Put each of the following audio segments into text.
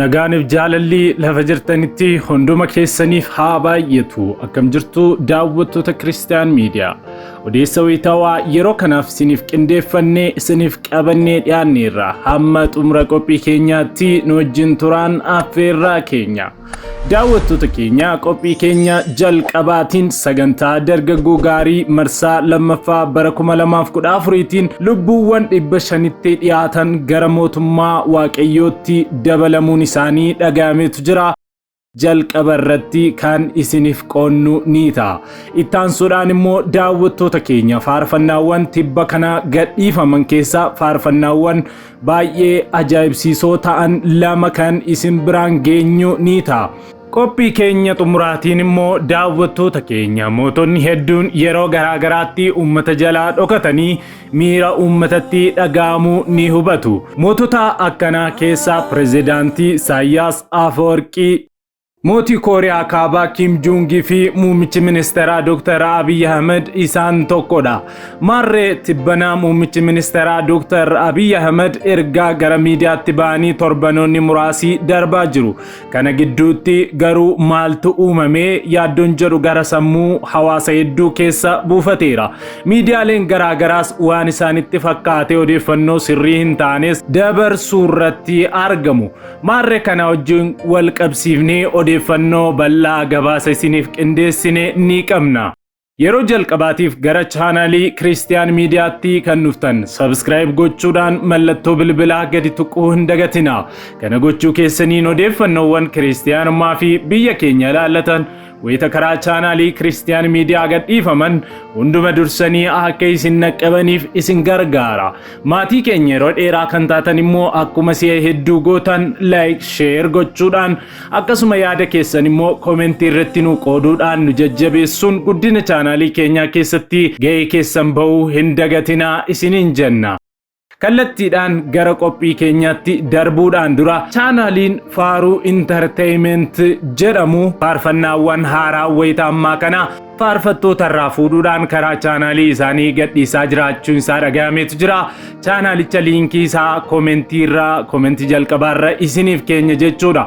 Nagaaniif jaalalli lafa jirtanitti hunduma keessaniif haa baay'atu. Akkam jirtu daawwattoota Kiristiyaan Miidiyaa. Odeessa wayitaawaa yeroo kanaaf isiniif qindeeffannee isiniif qabannee dhiyaanneerra. Hamma xumura qophii keenyaatti nu wajjin turaan affeerraa keenya. Daawwattoota keenya qophii keenya jalqabaatiin sagantaa dargaggoo gaarii marsaa lammaffaa bara 2014tiin lubbuuwwan dhibba shanitti dhiyaatan gara mootummaa waaqayyootti dabalamuun isaanii dhagayametu jira. jalqaba irratti kan isiniif qoonnu ni ta'a. Ittaansuudhaan immoo daawwattoota keenya faarfannaawwan tibba kana gadhiifaman keessaa faarfannaawwan baay'ee ajaa'ibsiisoo ta'an lama kan isin biraan geenyu ni ta'a. Qophii keenya xumuraatiin immoo daawwattoota keenya mootonni hedduun yeroo garaa garaatti uummata jalaa dhokatanii miira uummatatti dhaga'amu ni hubatu. Mootota akkanaa keessaa pirezidaantii Isaayyaas Afawarqii Mootii Kooriyaa Kaabaa Kiim Juungii fi muummichi ministeeraa Dr. Abiy Ahmed isaan tokkodha. Maarree tibbanaa muummichi ministeeraa Dr. Abiy Ahmed ergaa gara miidiyaatti ba'anii torbanoonni muraasii darbaa jiru. Kana gidduutti garuu maaltu uumamee yaaddoon jedhu gara sammuu hawaasa hedduu keessa buufateera. Miidiyaaleen garaagaraas waan isaanitti fakkaatee odeeffannoo sirrii hin taanes dabarsuurratti argamu. Maarre kana wajjin wal qabsiifnee odeeffannoo bal'aa gabaasa isiniif qindeessine ni qabna. Yeroo jalqabaatiif gara chaanaalii Kiristiyaan Miidiyaatti kan dhuftan sabiskiraayib gochuudhaan mallattoo bilbilaa gadi tuquu hin dagatina. Kana gochuu keessaniin odeeffannoowwan Kiristiyaanummaa fi biyya keenya ilaallatan Wayita karaa chaanaalii Kiristiyaan Miidiyaa gadhiifaman hunduma dursanii akka isin naqqabaniif isin gargaara. Maatii keenya yeroo dheeraa kan taatan immoo akkuma si'a hedduu gootan like, share gochuudhaan akkasuma yaada keessan immoo komentii irratti nu qooduudhaan nu jajjabeessuun guddina chaanaalii keenyaa keessatti ga'ee keessan ba'uu hin dagatinaa isiniin jenna. Kallattiidhaan gara qophii keenyaatti darbuudhaan dura chaanaaliin Faaruu Intarteeyimenti jedhamu faarfannaawwan haaraa wayita ammaa kana faarfattoota irraa fuudhuudhaan karaa chaanaalii isaanii gadhiisaa jiraachuun isaa dhagahameetu jira. Chaanaalicha liinkii isaa komentii irra komentii jalqabaa irra isiniif keenya jechuudha.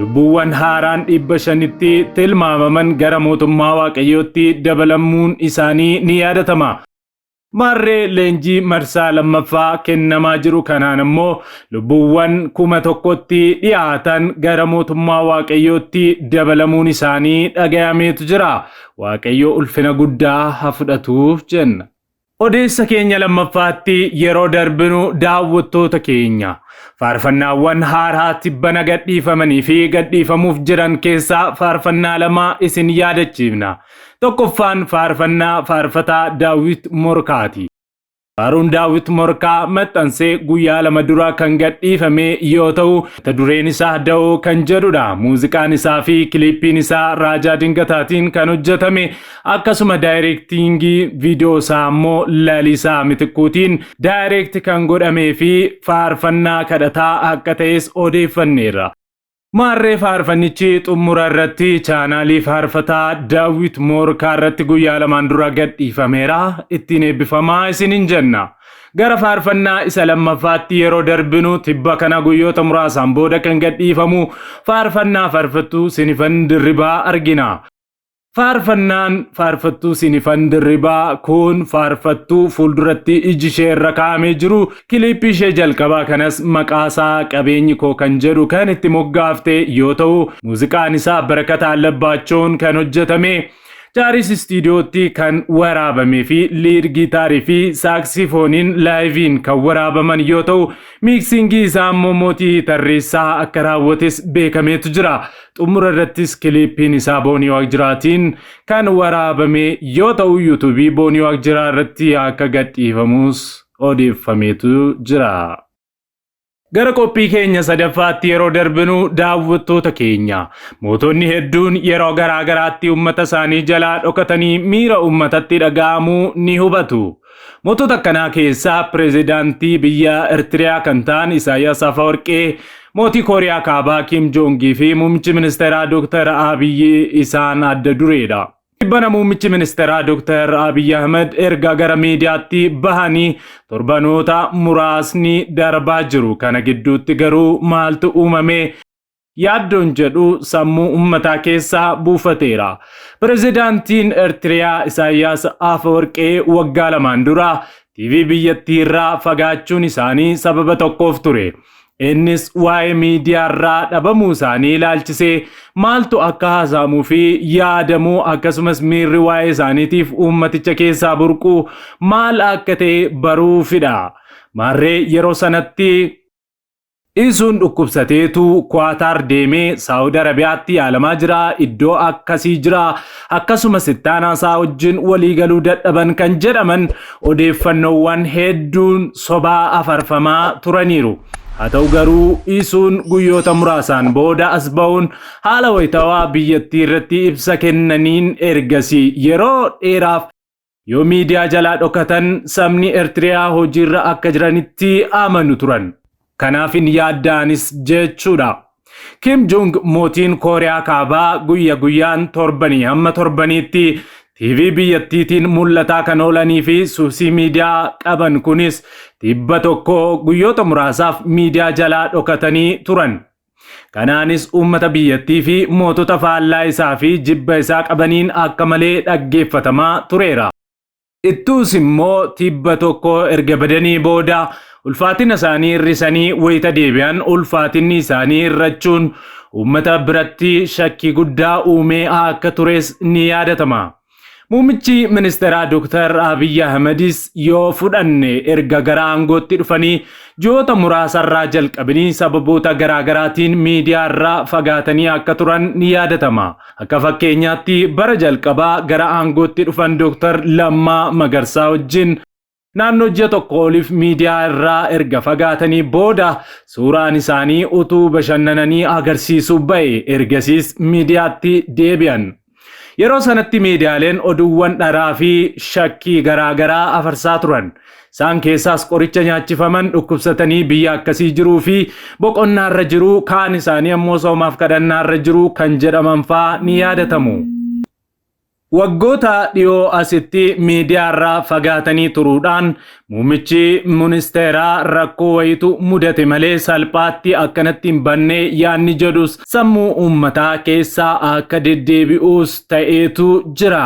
Lubbuuwwan haaraan dhibba shanitti tilmaamaman gara mootummaa Waaqayyootti dabalamuun isaanii ni yaadatama. Maarree leenjii marsaa lammaffaa kennamaa jiru kanaan ammoo lubbuuwwan kuma tokkotti dhiyaatan gara mootummaa Waaqayyootti dabalamuun isaanii dhagayameetu jira. Waaqayyo ulfina guddaa ha fudhatuuf jenna. Odeessa keenya lammaffaatti yeroo darbinu daawwattoota keenya faarfannaawwan haaraa tibbana gadhiifamanii fi gadhiifamuuf jiran keessaa faarfannaa lama isin yaadachiifna. Tokkoffaan faarfannaa faarfataa Daawit Morkaati. Faaruun Daawit Morkaa maxxansee guyyaa lama dura kan gadhiifame yoo ta'u, mata dureen isaa Da'oo kan jedhudha. Muuziqaan isaa fi kiliippiin isaa Raajaa Dingataatiin kan hojjetame Akkasuma daayireektiingii viidiyoo isaa immoo Lalisaa Mitikkuutiin daayireekti kan godhamee fi faarfannaa kadhataa akka ta'es odeeffanneerra. Maarree faarfannichi xumura irratti chaanaalii faarfataa Daawwit Moorkaa irratti guyyaa lamaan dura gadhiifameera. Ittiin eebbifamaa isinin jenna. Gara faarfannaa isa lammaffaatti yeroo darbinu tibba kana guyyoota muraasaan booda kan gadhiifamu faarfannaa faarfattuu Sinifan Dirribaa argina. Faarfannaan faarfattuu Sinifan Dirribaa kun faarfattuu fuulduratti iji ishee irra kaa'amee jiru kiliippii ishee jalqabaa kanas maqaasaa qabeenyi koo kan jedhu kan itti moggaafte yoo ta'u muuziqaan isaa Barakataa Labbaachoon kan hojjetame Jaaris istiidiyootti kan waraabamee fi liid giitaarii fi saaksifooniin laayiviin kan waraabaman yoo ta'u miiksingii isaa immoo mootii tarreessaa akka raawwates beekameetu jira. Xumura irrattis kiliippiin isaa Boonii Waaqjiraatiin kan waraabame yoo ta'u yuutuubii Boonii Waaqjiraa irratti akka gadhiifamus odeeffameetu jira. Gara qophii keenya sadaffaatti yeroo darbinu daawwattoota keenya mootonni hedduun yeroo garaa garaatti uummata isaanii jalaa dhokatanii miira uummatatti dhaga'amu ni hubatu. Mootota akkanaa keessaa pirezidaantii biyya Ertiriyaa kan ta'an Isaayyaas Afawarqee, mootii Kooriyaa Kaabaa Kiim Joongii fi muummichi ministeeraa Dooktar Abiyyi isaan adda dureedha. Tibbana muummichi ministeeraa Dooktar Abiyyi Ahmed erga gara miidiyaatti bahanii torbanoota muraasni darbaa jiru. Kana gidduutti garuu maaltu uumame? yaaddoon jedhu sammuu ummataa keessa buufateera. Pirezidaantiin Ertiriyaa Isaayyaas Afawarqee waggaa lamaan dura TV biyyattii irraa fagaachuun isaanii sababa tokkoof ture. Innis waa'ee miidiyaa irraa dhabamuu isaanii ilaalchisee maaltu akka haasa'amuu fi yaadamuu akkasumas miirri waa'ee isaaniitiif uummaticha keessaa burquu maal akka ta'e baruufidha. Maarree yeroo sanatti Iisuun dhukkubsateetu Kuwaataar deemee Saawud Arabiyaatti yaalamaa jira. Iddoo akkasii jira. Akkasumas ittaanaa isaa wajjin waliigaluu dadhaban kan jedhaman odeeffannoowwan hedduun sobaa afarfamaa turaniiru. Haa ta'u garuu Iisuun guyyoota muraasaan booda as ba'uun haala wayitawaa biyyattii irratti ibsa kennaniin ergasii yeroo dheeraaf Yoo miidiyaa jalaa dhokatan sabni Ertiriyaa hojiirra akka jiranitti amanu turan. Kanaaf hin yaadda'anis jechuudha. Kim Jong mootiin Kooriyaa Kaabaa guyya guyyaan torbanii hamma torbaniitti TV biyyattiitiin mul'ataa kan oolanii fi suusii miidiyaa qaban kunis tibba tokko guyyoota muraasaaf miidiyaa jalaa dhokatanii turan. Kanaanis uummata biyyattii fi mootota faallaa isaa fi jibba isaa qabaniin akka malee dhaggeeffatamaa tureera. Ittuus immoo tibba tokko erga badanii booda ulfaatina isaanii hir'isanii wayita deebi'an ulfaatinni isaanii hir'achuun uummata biratti shakkii guddaa uumee akka tures ni yaadatama. Muummichi ministeeraa Dooktar Abiyyi Ahmedis yoo fudhanne erga gara aangootti dhufanii ji'oota muraasarraa jalqabanii sababoota garaagaraatiin miidiyaarraa fagaatanii akka turan ni yaadatama. Akka fakkeenyaatti bara jalqabaa gara aangootti dhufan Dooktar Lammaa Magarsaa wajjin Naannoo ji'a tokko oliif miidiyaa irraa erga fagaatanii booda suuraan isaanii utuu bashannananii agarsiisu ba'e. Ergasiis miidiyaatti deebi'an. Yeroo sanatti miidiyaaleen oduuwwan dharaa fi shakkii garaa garaa afarsaa turan. Isaan keessaas qoricha nyaachifaman, dhukkubsatanii biyya akkasii jiruu fi boqonnaarra jiru, kaan isaanii ammoo soomaaf kadhannaarra jiru kan jedhaman fa'aa ni yaadatamu. Waggoota dhiyoo asitti miidiyaarraa fagaatanii turuudhaan muummichi ministeeraa rakkoo wayiitu mudate malee salphaatti akkanatti hin banne yaadni jedhus sammuu uummataa keessa akka deddeebi'uus ta'eetu jira.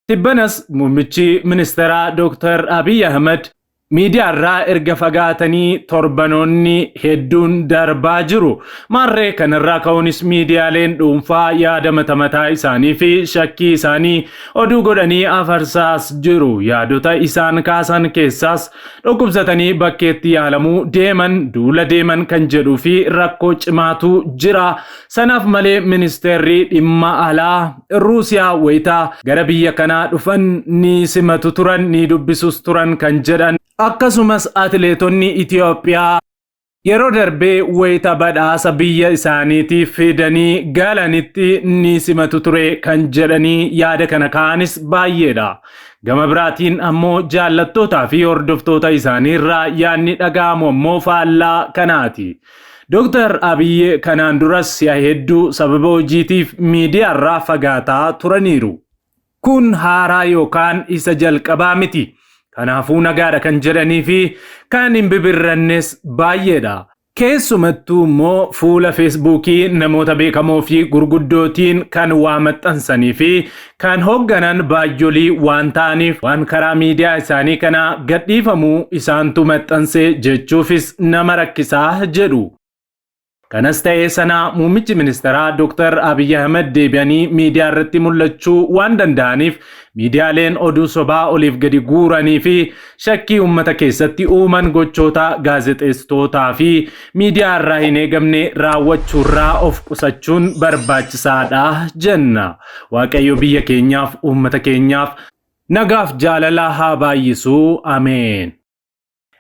Tibbanas muummichi ministeeraa Dooktar Abiy Ahimad Miidiyaarraa erga fagaatanii torbanoonni hedduun darbaa jiru. Maarree kanarraa ka'uunis miidiyaaleen dhuunfaa yaada mata mataa isaanii fi shakkii isaanii oduu godhanii afarsaas jiru. Yaadota isaan kaasan keessaas dhukkubsatanii bakkeetti yaalamuu deeman, duula deeman kan jedhuu fi rakkoo cimaatu jira. Sanaaf malee ministeerri dhimma alaa Ruusiyaa wayita gara biyya kanaa dhufan ni simatu turan ni dubbisus turan kan jedhan akkasumas atileetonni Itoophiyaa yeroo darbee wayita badhaasa biyya isaaniitiif fidanii galanitti ni simatu ture kan jedhanii yaada kana ka'anis baay'eedha. Gama biraatiin ammoo jaallattootaa fi hordoftoota isaanii irraa yaadni dhaga'amu ammoo faallaa kanaati. Dooktar Abiyyi kanaan duras si'a hedduu sababa hojiitiif miidiyaarraa fagaataa turaniiru. Kun haaraa yookaan isa jalqabaa miti. Kanaafuu nagaadha kan jedhanii fi kan hin bibirrannes baay'eedha. Keessumattuu immoo fuula Feesbuukii namoota beekamoo fi gurguddootiin kan waa maxxansanii fi Kan hoogganan baajjolii waan ta'aniif waan karaa miidiyaa isaanii kanaa gadhiifamu isaantu maxxanse jechuufis nama rakkisa jedhu. Kanas ta'ee sana muummichi ministeeraa Dooktar Abiy Ahimad deebi'anii miidiyaa irratti mul'achuu waan danda'aniif miidiyaaleen oduu sobaa oliif gadi guuranii fi Shakkii ummata keessatti uuman gochoota gaazexeessitootaa fi miidiyaa irraa hin eegamne raawwachuurraa of qusachuun barbaachisaadha jenna. Waaqayyo biyya keenyaaf, uummata keenyaaf. Nagaaf jaalala haa baay'isu. Ameen.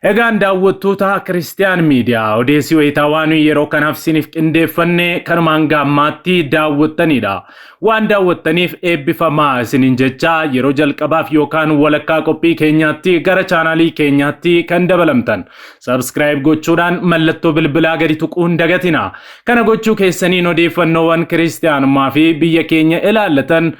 Egaan daawwattoota Kiristiyaan Miidiyaa odeessi wayitaawaa nuyi yeroo kanaaf isiniif qindeeffanne kanuma hanga ammaatti daawwattaniidha. Waan daawwattaniif eebbifamaa isiniin jechaa yeroo jalqabaaf yookaan walakkaa qophii keenyaatti gara chaanaalii keenyaatti kan dabalamtan subscribe gochuudhaan mallattoo bilbilaa gadi tuquu hin dagatina. Kana gochuu keessaniin odeeffannoowwan kiristiyaanummaa fi biyya keenya ilaallatan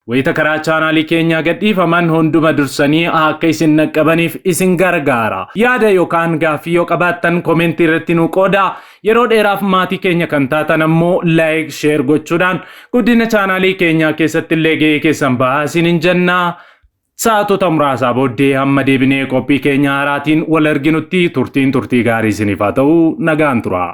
wayita karaa chaanaalii keenyaa gadhiifaman hunduma dursanii akka isin naqqabaniif isin gargaara. Yaada yookaan gaaffii yoo qabaattan komentii irratti nu qoodaa. Yeroo dheeraaf maatii keenya kan taatan ammoo like, share gochuudhaan guddina chaanaalii keenyaa keessatti illee ga'ee keessan bahaa isiniin jenna. Sa'aatota muraasaa booddee hamma deebinee qophii keenya haaraatiin wal arginutti turtiin turtii gaarii isiniif haa ta'u nagaan turaa.